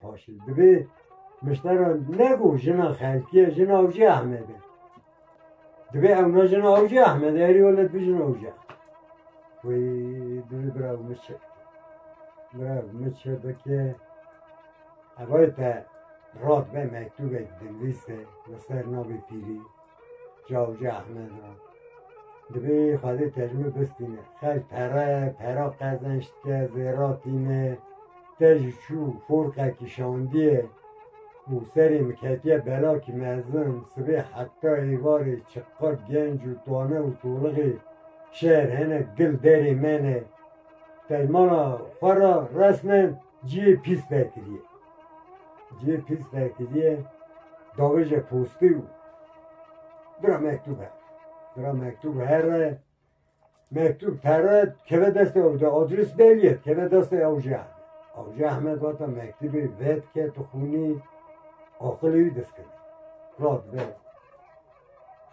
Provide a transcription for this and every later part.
Paşê divê miştera ne ku jina xelkî ye, jina ewcê Ehmed e. Divê ew ne jina ewcê Ehmed e, herî wele divê jina ewcê Ehmed. Wê divê bira ew min çê bike. Bira ew min çê bike. Evayê te rat be mektûbek dingîste li ser navê pîrî. Cavcî Ehmed a. Divê Xwedê tejmî bistîne. Xelk pere, pera qezençdike, zêra tîne. Te jî çû forqe kişandiye û serê min ketiye belakî mezin. Sibê heta êvarê çiqa genc û tane û tolixê şer hene gil derê me ne. Dejmana xwe ra resmen Cihê pîs derkiriye. Cihê pîs derkiriye davêje postî û bira mektûb her. Bira mektûb her e. Mektûb pere keve destê ew de adres belî ye keve destê ew jî heme. Ew jî heme vata mektûbê vedike tu xûnî aqilê wî diskirî. Rat be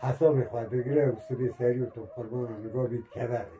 hesabê xwe digire û sibê serî û tu bi qurbanan niga bî dikeve rê.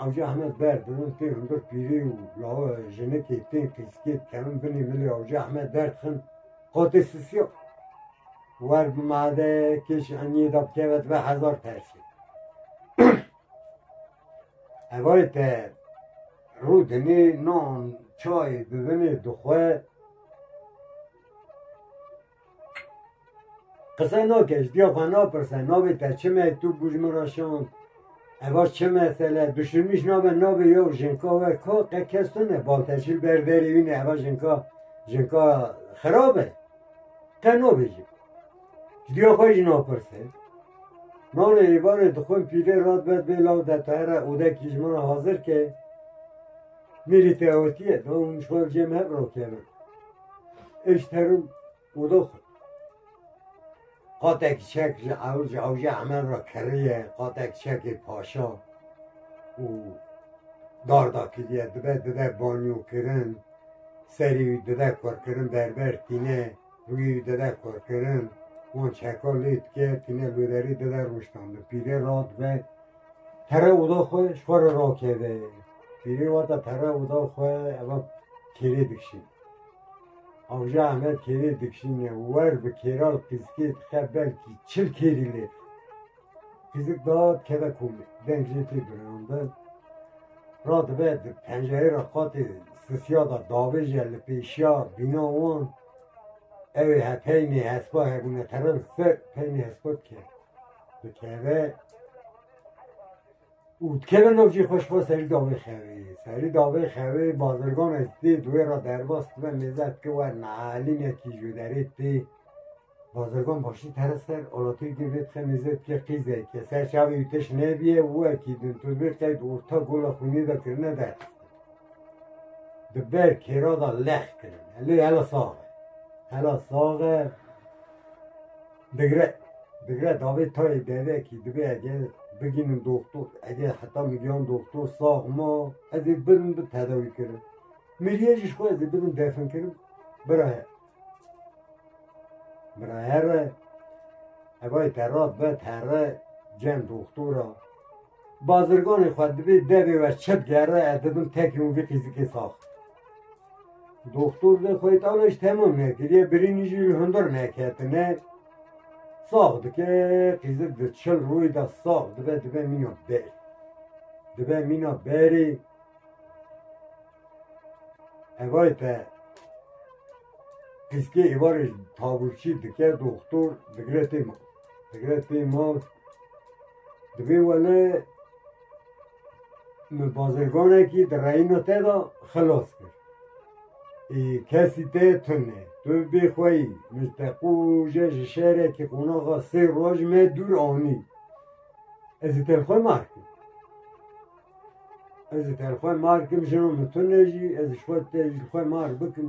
Awca Ehmed ber bi min pê hundir pîrê û lawa jinikê pê pîskê dikevin binê milê Awca Ehmed ber dixin qotê sisiya wer bi made kêş eniyê da bikeve dibe hezar tersê. Evarê te rû dinê nan çayê bibinê dixwe Qise nake ji diya xwe napirse navê te çi me tu bû ji min re şand eva çi mesele duşunîş nabe navê yew jinka we ka qe kes tune bal te çil ber derê wî ne eva jinka jinka xirab e te nabêjî ji diya xwe jî napirse Nane êvarê dixwin pîlê rat vet bê law de te here odekî ji min re hazir ke mîrî te otiye dom ji xwe cem hev rakevin Eş terim udox. Qatek çek ji ew ji ewje emen ra kiriye qatek çekê paşa û darda kiriye dibe dide banyo kirin serî wî dide kur kirin berber tîne wî dide kur kirin wan çeka lê dike tîne lûderî dide rûştandin pîrê ra dibe Pere oda xwe ji xwe re rakeve. Pîrê wata pere oda xwe eva kêrê dikişîn. Avja Ahmed kêrê dikişîn e wer bi kêral qîzikê dixe belkî çil kêrî lê dixe. Qîzik da dikeve komê deng jê tê birandin. Ra dibe di pencerê re qatê sisiya da davêje li pêşiya bîna wan ew ê he peynê hespa hebûne terin ser peynê hespa dike. Dikeve û dikeve navcî xweş xwe serî davê xevê. Serî davê xevê bazirgan ez tê duwê ra derbas dibe mêze dike wer nealînekî ji derê tê. Bazirgan başî tere ser olatê dê vê dixe mêze dike qîzeke ser çavê wî tişt nebîye û wekî din tu vê qeyd orta gola xwînê de kirine der. Di ber kêra de lex kirine. Lê hela sax e. Hela sax e. Digre digre davê tayê devekî divê eger bigînim doktor eger heta min giyan doktor sax ma ez ê birim bi tedawî kirin. Miriyê jî ji xwe ez ê bidim defin kirin bira her. Bira her e evayê te rast be terre cem doktora. Bazirganê xwe divê devê we çi digere ez dibim tekî û vî qîzikê sax. Doktor de xeytana ji temam nekiriye, birînî jî li hundir neketine. Sax dike, qîzir di çil rûyê de sax dibe, dibe mîna ber. Dibe mîna berê. Evay te qîzkê êvarê tavûrçî dike doktor digire tê ma. Digire tê ma. Dibê wele Bazirganekî di reyna te de xilas kir. Ê kesî te tune ye. Tu bê xwe yî. Min te qûje ji şêrekî qonaxa sê roj me dûr anî. Ez ê te li xwe mar kim. Ez ê te li xwe mar kim jina min tune jî. Ez ji xwe te li xwe mar bikim.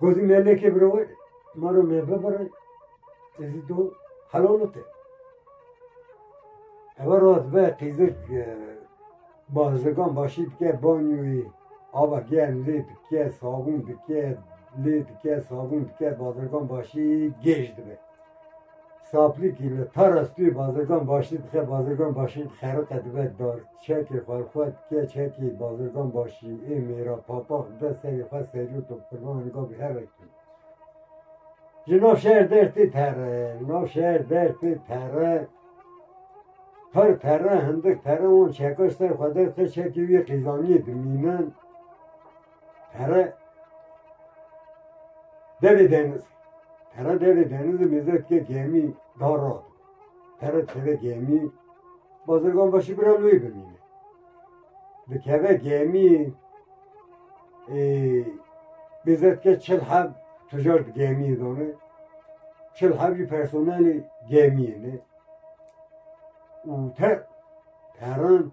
Gozi melekê birowê maro me bibirê tezi do helolite. Eva rast be qîzik e, bazigan başî dike banyoyê ava germ lê dike sabûn dike lê dike sabûn dike bazigan başî gêj dibe. Saplikî li para stûyê Bazirgan Başî dixe, Bazirgan Başî xeriqe dibe dar, çekê xwe li xwe dike, çekê Bazirgan Başî ê mêra papax dibe serê xwe serî û topxirvanan gavê herek tê. Ji nav şer der tê pere, nav şer der tê pere, her pere hindik pere wan çeka ji ser xwe derdixe, çekê wî qîzaniyê dimînin. Pere devê deniz. Pere devê deniz û mêze dike gemî da rad. Pere dikeve gemî bazirgan başî bira wê bimîne. Dikeve gemî e, mêze dike çil heb tujar di gemîyê dane. Çil heb jî personelê gemîyê ne. Û te peran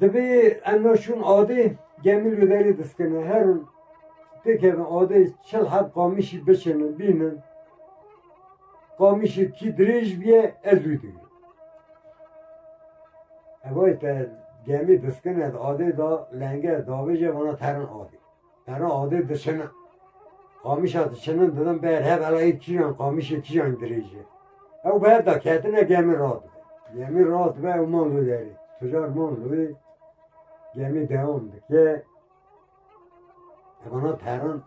Divê em naçûn adê gemîl û derê diskine her in pêkevin adê çil heb qamîşî biçinin bînin qamîşê kî dirêj bîye ez wî digirim Ew te gemî diskine adê da lenger davêje vana terin adê Pere adê diçine. Qamişa diçinin didin ber hev elayê çîyan qamişê çîyan dirêj e. Ew bi hev da ketine gemî rast be. Gemî rast be ew man li derê. Tucar man li gemî dewam dike. Evana perin.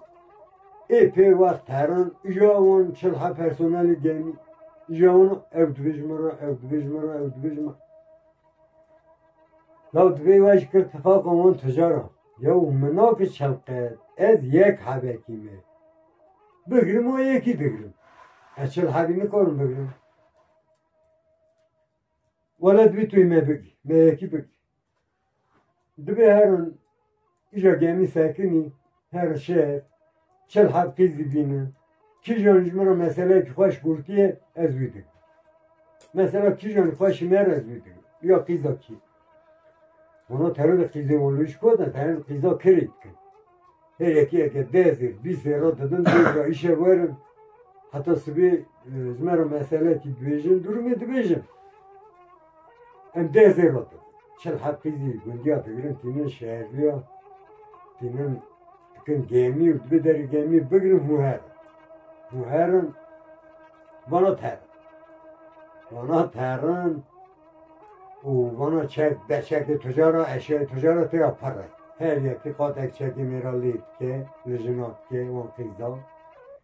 Êpê wext perin îja wan çil he personelî gemî. İja wan ew dibêj min re, ew dibêj min re, ew dibêj min. Ya divê we ji kir tifaq wan tucara. Yew mına bi çelqet ez yek hebekî me bigirim û yekî digirim. Ez çil hebî nikarim bigirim. Wele divê tu me bigî, me yekî bigî. Divê herin îja gemî sekinî her şer çil hev kij dibînin. Kijan ji min re meseleyekî xwe ji gotiyê ez wî dikim. Mesela kijan xwe ji me re ez wî dikim. Ya qîza kî. Ona terorê qîzê olû ji koda derin qîza kirê dikin. Her yekê yeke dezir, bîsê re didin dêra îşe werin. Heta sibê ji me re meseleyekî dibêjin, durumê dibêjin. Em dê zê rot. Çil hepizî gundiya digirin tînin şehirliya tînin dikin gemî û dibi derê gemî bigirin hûher. Hûherin vana ter. Vana terin û vana çek deçekê tujara eşyayê tujara têya pere. Her yekî qatek çekê mêra lê dike, li jina dike, wan qîza.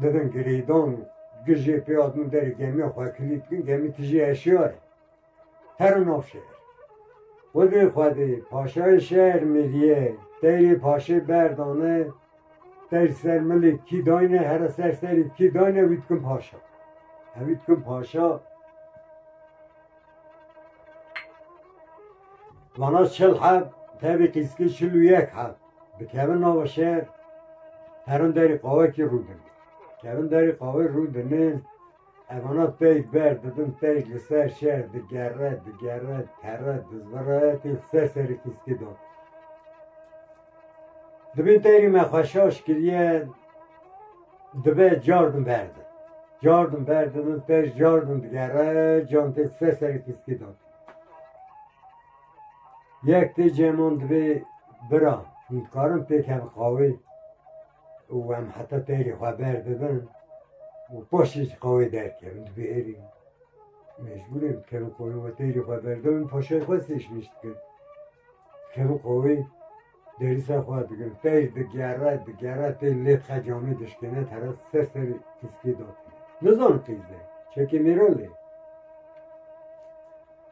Didin girêdan gijê pê hatin derê gemiya xwe kilî dikin gemî tijî eşyar e her û nav şer. Xwedê xwedê paşayê şer mêriye deyrê paşê berdane der ser milê kî dayne here ser serê kî dayne wî dikin paşa. Hewî dikin paşa Vana çil heb tevî qîskî çil û yek heb. Dikevin nava şer herin derê qawekî rû din. Kevin derê qawê rû dinin evana teyk ber didin teyk li ser şer digere digere pere dizvire tê ser serê fîskê da. Dibin terî me xweşa şikiriye dibe cardin berdin. Cardin berdin ter cardin digere can tê ser serê fîskê da. Yek tê cêman divê bira hûn dikarin pêk hev qawê û em heta pêrê xwe berdibin û paşê jî qawê derkevin divê êrî mecbûrê dikevin qawê we pêrê xwe berdibin paşayê xwe sêşmêş dikin dikevin qawê Derîsa xwe digir, pey digere, digere pey lê xe camê dişkêne tere ser serî tiskî da. Nizanin qîz e, çekê mêran lê.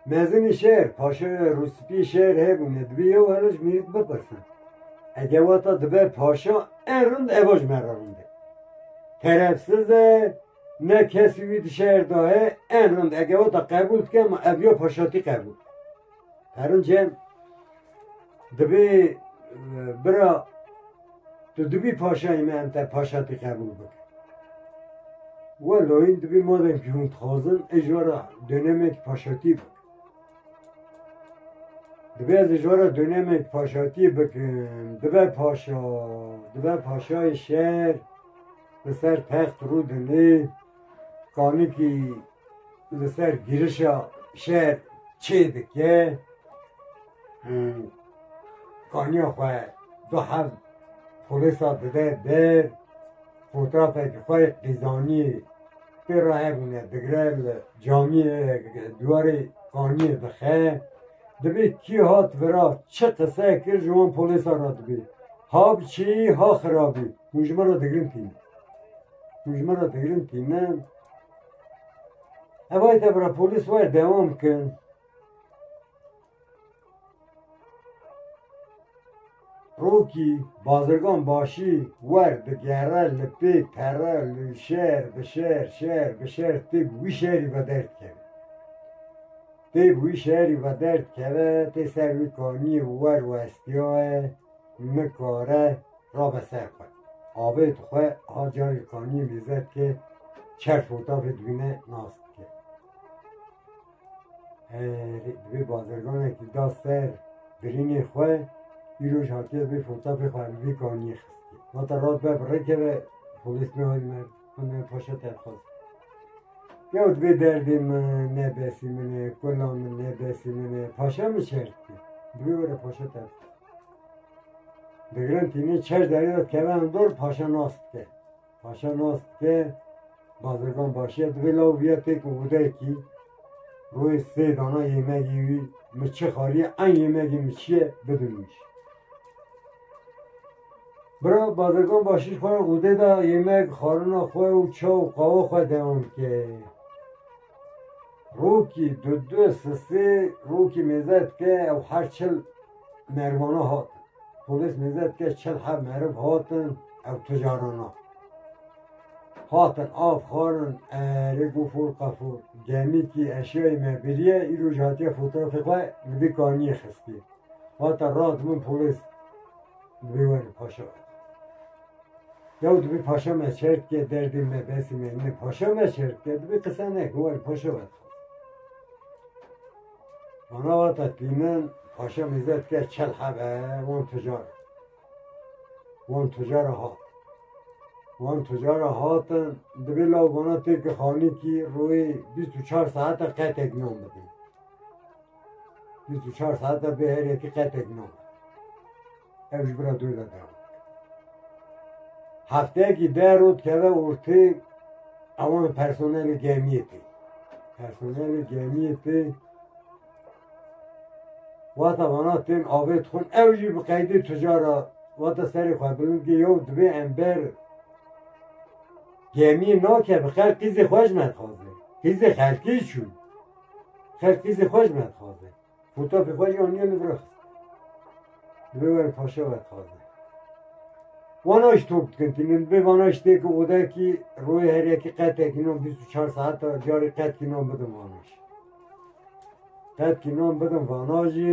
Mezinî şer, paşe rûspî şer hebûne, dibê yew hele ji mêrik bipirsin. Ege wata dibe paşa en rind eva ji me re rind e. Terefsiz e, ne kesî wî di şer da he, en rind ege wata qebûl dike ma ev ya paşatî qebûl. Herunce divê bira tu dibî paşayê me em te paşa tê qebûl bike. We loyîn dibî madem kî hûn dixwazin ê ji we re dönemek paşatiyê bike. Divê ez ê ji we re dönemek paşatiyê bikim, dibe paşa, dibe paşayê şer, li ser text rû dinê, kanîkî li ser girişa şer çê dike û kaniya xwe du hev polisa dide der fotoğrafeki xwe qîzaniyê pê re hebûne digre li camiyê duwarê kaniyê dixe dibê kî hat vira çi qise kir ji wan polisa re dibê ha bi çêyî ha xirabî hûn ji min re digirin tîne hûn ji min re digirin tîne Hevayê te bira polîs wer dewam kin. Rokî bazirgan başî wer digere li pê pere li şer bi şer şer bi şer tê bi wî şerî ve derd keve. Tê bi wî şerî ve derd keve tê ser wî kaniyê wer westiyaye. Nikare rabe ser xwe. Avê dixwe a carê kaniyê mêze dike çer fotafê dibîne nas dike. Erê divê bazirganekî da ser birînê xwe îroj hatiye vê fotafê xwe li vî kaniyê xistî. Vate rast be bi rê keve polîs nihayî me. Hûnê paşa derxwaz. Yewt vê derdê min nebesî min e, kula min nebesî min e. Paşa min şert ki. Bi vê were paşa derxwaz. Digirin tînê çer derê de keven dor paşa nas dike. Paşa nas dike bazirgan başiye divê law viya têk û wudekî. Royê sê dana yêmegî wî mi çi xariye eyn yêmegî mi çiye bidimîş. Bira Bazirgan Başîr xwe rûdê da yemek, xwarina xwe û çaw û qawa xwe dewam dike. Rokî di du sistê rokî mêze dike ew her çil merivana hatin. Polîs mêze dike çil heb meriv hatin ew tijarana. Hatin av xwarin erê gofûr qefûr gemîkî eşyayê me biriye îro jî hatiye fotoğrafê xwe li vî kaniyê xistî. Hate rand min polîs. Dibê were paşa. Yaw dibê paşa me şer dike derdê me besê me ne paşa me şer dike dibê qisa neke were paşa were. Mana vata tîmin paşa mizde dike çel hebe wan tucar. Wan tucar hat. Wan tucar hatin dibê law bana têke xanî kî rûyê 24 saete qetek nam bidin. 24 saat de bê her yekî qetek no. Ev ji bira dû de dew. Hefteyekî de rot keve ortê ewan personelê gemiyê tê. Personelê gemiyê tê wata vana tên avê dixwin ew jî bi qeydê tijara wata serê xwe bilin ki yew divê em ber gemiyê nake bi xelk qîzê xwe ji me dixwaze. Qîzê xelkê çû. Her tîzê xwe ji me dixwaze. Fotopê xwe jî aniye li vir xist. Divê were paşe we dixwaze. Wana ji top dikin tînin bê vana ji têkî odekî royê her yekî qetekî nan bîst û çar saeta carê qetkî nan bidim vana jî. Qetkî nan bidim vana jî